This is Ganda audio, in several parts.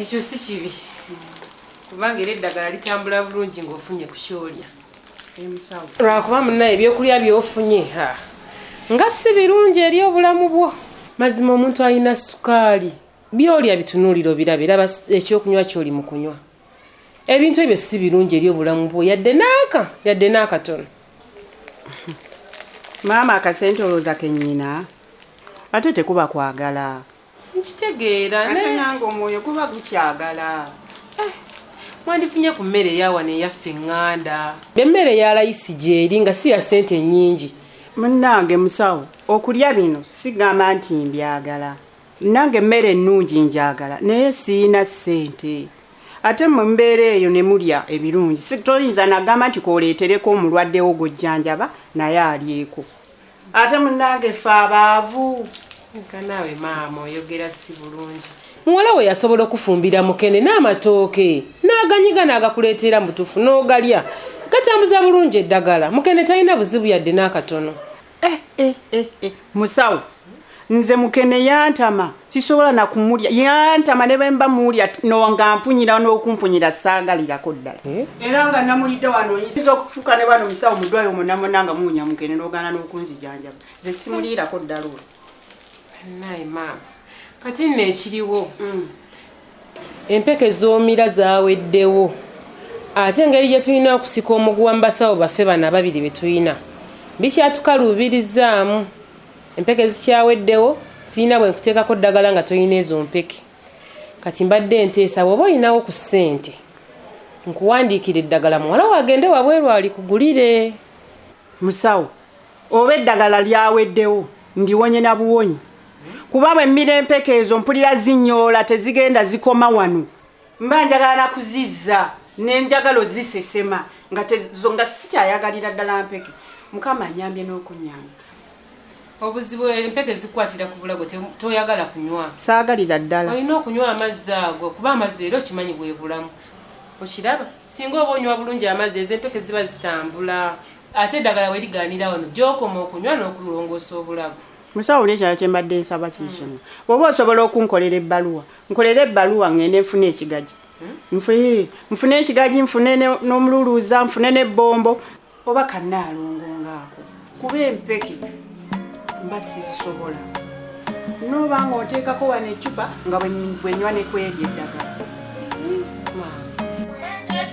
ekyo si kibi kubanga era eddagala litambula bulungi ng'ofunye ku kyolya lwakuba munaye ebyokulya byofunye ha nga si birungi eri obulamu bwo mazima omuntu alina sukaali byolya bitunuulira obiraba era ekyokunywa kyoli mu kunywa ebintu ebyo si birungi eri obulamu bwo yadde naaka yadde naakatono maama akasente olowooza kenyina ate tekuba kwagala nkitegeera ate naye nange omwoyo guba gukyagala eh, mwandifunye ku mmere eyawano eyaffe eŋŋanda emmere ya layisi gyeri nga si ya ssente ennyingi munnange musawo okulya bino sigamba nti mbyagala nange emmere ennungi njagala naye siyina ssente ate mu mbeera eyo ne mulya ebirungi Si- toyinza nagamba nti kooleetereko omulwaddewo gwojjanjaba naye alyeko ate munange ffe abaavu nkanaawe maama oyogera si bulungi muwala we yasobola okufumbira mukene n'amatooke n'aganyiga n'agakuleetera mu butuufu n'ogalya gatambuza bulungi eddagala mukene talina buzibu yadde n'akatono eh, eh, eh, musawo nze mukene yantama sisobola nakumulya yantama ne bemba mulya nonga mpunyira n'okumpunyira saagalirako ddala eh? era nga namulidde wano oyinza okufuuka ne bano musawo mudwayi omunamona nga muwunya mukene n'ogaana n'okunzijanjaba nze simuliirako ddala olwo naye maama kati nno ekiriwo mm. empeke z'omira zaweddewo ate engeri gye tulina okusika omuguwa mu basawo baffe bano ababiri be tulina bikyatukaluubirizzaamu Empeke zikyaweddewo, sirina bwe nkuteekako ddagala nga tolina ezo mpeke. Kati mbadde nteesa bw'oba olinawo ku ssente nkuwandiikire eddagala muwala wo agende wabweru alikugulire. Musawo, oba eddagala lyaweddewo ndiwonye na buwonyi kuba bwe mmira empeke ezo mpulira zinyoola tezigenda zikoma wano. mba njagala nakuzizza nenjagala ozisesema nga tezo nga sikyayagalira ddala mpeke mukama anyambye n'okunyamba obuzibu empeke zikwatira ku bulago toyagala kunywa saagalira ddala olina okunywa amazzi ago kuba amazzi era okimanyi bwebulamu okiraba singa oba onywa bulungi amazzi ezo empeke ziba zitambula ate eddagala weriganira wano gyokoma okunywa n'okulongoosa obulago musawo nekyalo kyembadde nsaba kikimu oba osobola okunkolera ebbaluwa nkolere ebbaluwa ngende nfune ekigaji nfee nfune ekigaji nfune ne- n'omululuuza nfune n'ebbombo oba kannaalongo ngaako kuba empeke mba sizisobola nooba nga oteekako wano eccupa nga bwe- bwenywa ne kweri eddagala Maama.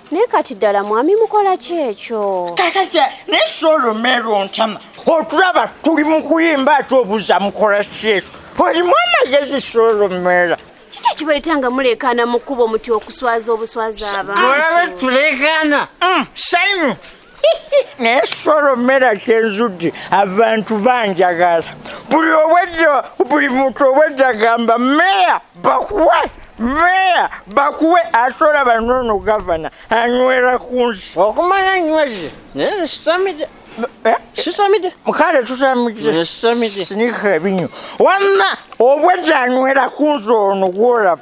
naye kati ddala mwami mukola ki ekyo kakati naye solomero ntama otulaba tuli mu kuyimba ate obuza mukola ki ekyo olimu amagezi solomera kiki ekibaita nga muleekaana mu kkubo muti okuswaza obuswaza abaolaba tuleekaana mm, sanyu naye solomera kyenzudde abantu banjagala buli obwedda buli muntu obwedda gamba meya bakuwe meya bakuwe asola banoono gavana anywera ku nsi okumanya nyweze naye nsitamide eh? sitamide mukale tutamidesinika ebinyo wamma obwedda anywera ku nsi ono gwolaba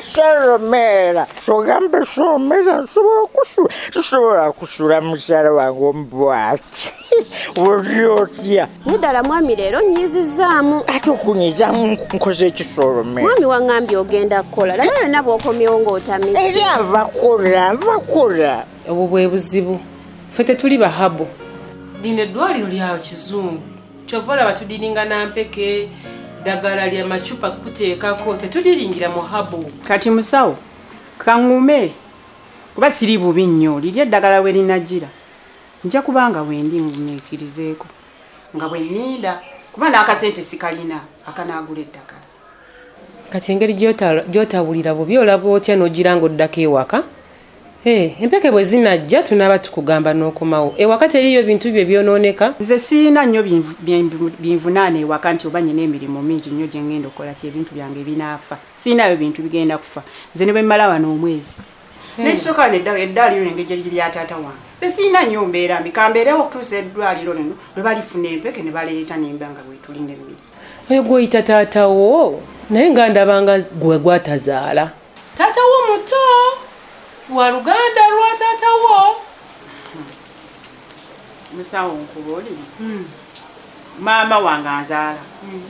soromera sogambe somera nsobola okusula sisobola kusula mukyala wange omubwati oli otya muddala mwami leero nyizizzaamu ate okunyizamu nkoze ekisoromera mwami waŋŋambye ogenda kukola laba yonna bw'okomyewo ng'otami eri ava kola ava kola obwo bwe buzibu ffe tetuli bahabu lino eddwaliro lya kizungu kyova olaba tudiringa nampeke dagala lya macupa kuteekako tetudiringira muhabu kati musawo kaŋume kuba siri bubi nnyo liri eddagala we linajjira nja kubanga wendi ngumiikirizeeko nga bwe ninda kuba n'akasente sikalina akanaagula eddagala kati engeri gyotawulira bubi olaba otya nogira nga oddako ewaka eh, empeke bwe zinajja tunaaba tukugamba n'okomawo ewaka teriyo bintu bye byonooneka nze siyina nnyo binvunaana ewaka nti oba nyina emirimu mingi nnyo gye ngenda okukola ti ebintu byange binaafa siyinayo bintu bigenda kufa nze ne bwe mmala wano omwezi hmm. nekisooka wano eddaaliyo nengeri gyeriri lya taata wange nze siyina nnyo mbeera mbi kambeerewo okutuusa eddwaliro lino lwe balifuna empeke ne baleeta nemba nga bwetuli nemmiri oyo gwoyita taata wo naye nga ndabanga gwe gwatazaala taata wo muto wa luganda lwa taata wo musawo nkuba oli hmm. maama wange azaala hmm.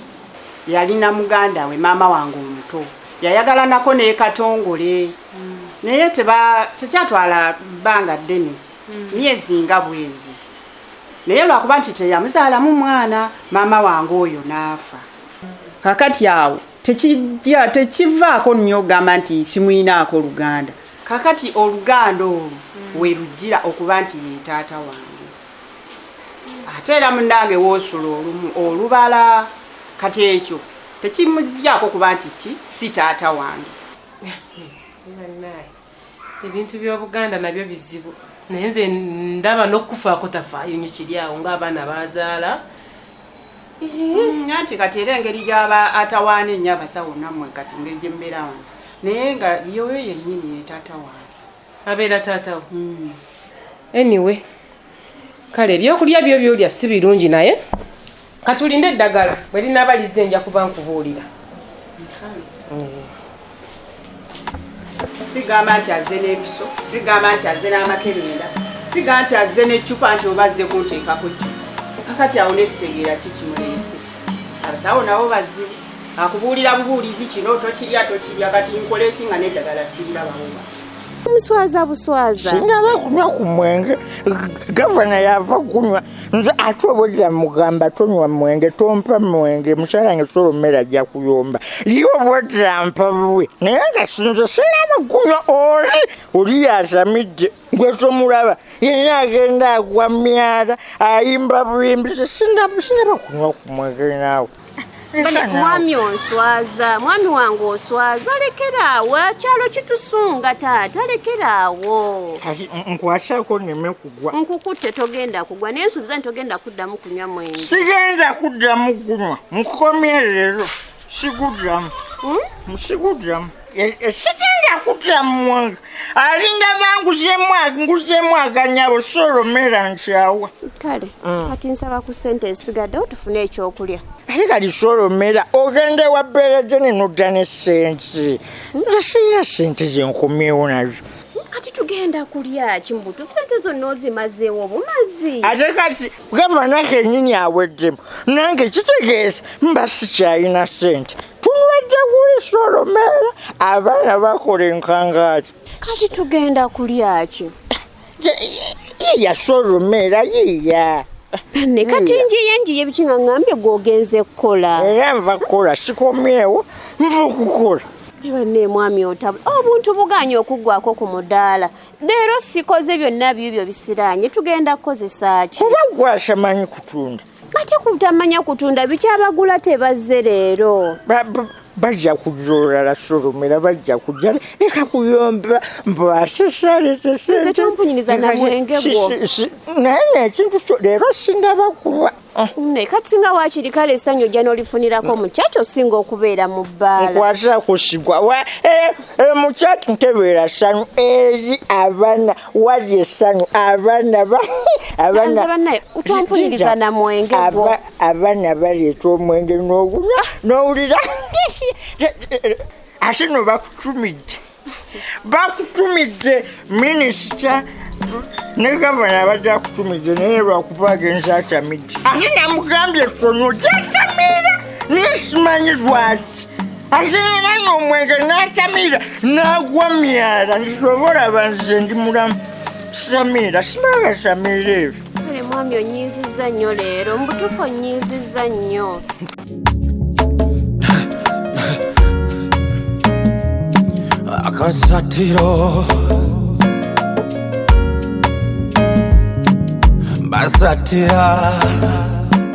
yalina muganda we maama wange omuto yayagalanako nekatongole hmm. naye tekyatwala bbanga ddene myezi nga bwezi naye lwakuba nti teyamuzaalamu mwana maama wange oyo n'afa kakati awo tekivaako nnyo ogamba nti simuyinaako oluganda kakati oluganda olwo mm. werujjira okuba nti ye taata wange ate era munange woosula olumu olubala kati ekyo tekimujjako kuba nti ki si taata wange ebintu by'obuganda nabyo bizibu naye nze ndaba n'okukufaako tafaayo nyo kiri awo ng'abaana bazaala nti kati era engeri gyaba atawaana ennyo abasawo nammwe kati ngeri gye mubeera wano naye nga yoyo yennyini ye taata wange abeera taata wo hmm. anyway kale ebyokulya byo byolya si birungi naye katulinde eddagala bwe linaaba lizze nja kuba nkubuulira sigamba nti azze n'ebiso sigamba nti azze n'amakerenda siga nti azze n'eccupa nti oba azze kunteekako ccu kakati awo nesitegeera kikimuleese abasawo nabo bazibu akubuulira bubuulizi kino tokirya tokirya kati nkola eki nga n'eddagala sirira bawuma omuswaza buswaza sinaba kunywa ku mwenge gavana yava kunywa nze ate obulira mugamba tonywa mwenge tompa mwenge mukyala wange sola ommere ajja kuyomba ye obulira mpa buwe naye nga sinze sinaba kunywa oli oli yasamidde gwe tomulaba yenna agenda agwa myala ayimba buyimbi sinaba kunywa ku mwenge naawe mwami onswaza mwami wange oswaza lekeraawo akyalo kitusunga taata lekeraawo nkwasako neme kugwa nkukute togenda kugwa naye nsuubiza nti togenda kuddamu kunywa mwenge sigenda kuddamu kunywa nkukomye leero siguddamu hmm? siguddamu sikenda kudda mu mwanga alinga banguzemu nguzemu aganyabo solomera nkyawa kale mm. kati nsaba ku sente esigadde otufune ekyokulya ate kali solomera ogenda ewa beerede nenodda ne sente hmm? nga sirina sente zenkomyewo nazo kati tugenda kulya kimbutufu sente zonna ozimazeewo obumazi ate kati gamba nakenyini aweddemu nange kitegeeza mba sikyalina sente tunwedde kuliisa olumeera abaana bakola enkangaati kati tugenda kulyaki yeyasa olumeera yiya ne kati njiye njiye biki nga ngambye gwogenze kukola era nva kukola sikomyewo nva okukola banne mwami otabu obuntu oh, buganye okuggwako ku mudaala leero sikoze byonna byibyo bisiraanye tugenda kukozesa ki kuba gwasamanyi kutunda ate kutamanya kutunda bikyabagula tebazze leero bajja kujja olulala solomera bajja kujja leka kuyomba mbwasesaletesnaye ekintu leero singa bakuba naye kati singa wakiri kale esanyu ojja nolifunirako mukyaki osinga okubeera mu bbaalakwata kusigwa mukyaki ntebeera sanyu eri abaana wali essanyu abaana abaana baleeta omwenge n'ogunywa n'owulira ate no bakutumidde bakutumidde minisita ne gavana abadde akutumidde naye lwakuba agenza atamidde ate namugambye tono gyatamira nesimanyi lwaki alinana ng'omwenge n'atamira n'agwa myala nsobola banze ndi mulamu samira simala samira ebyo kale mwami onyiizizza nnyo leero mubutuufu onyiizizza nnyo akasatiro basatira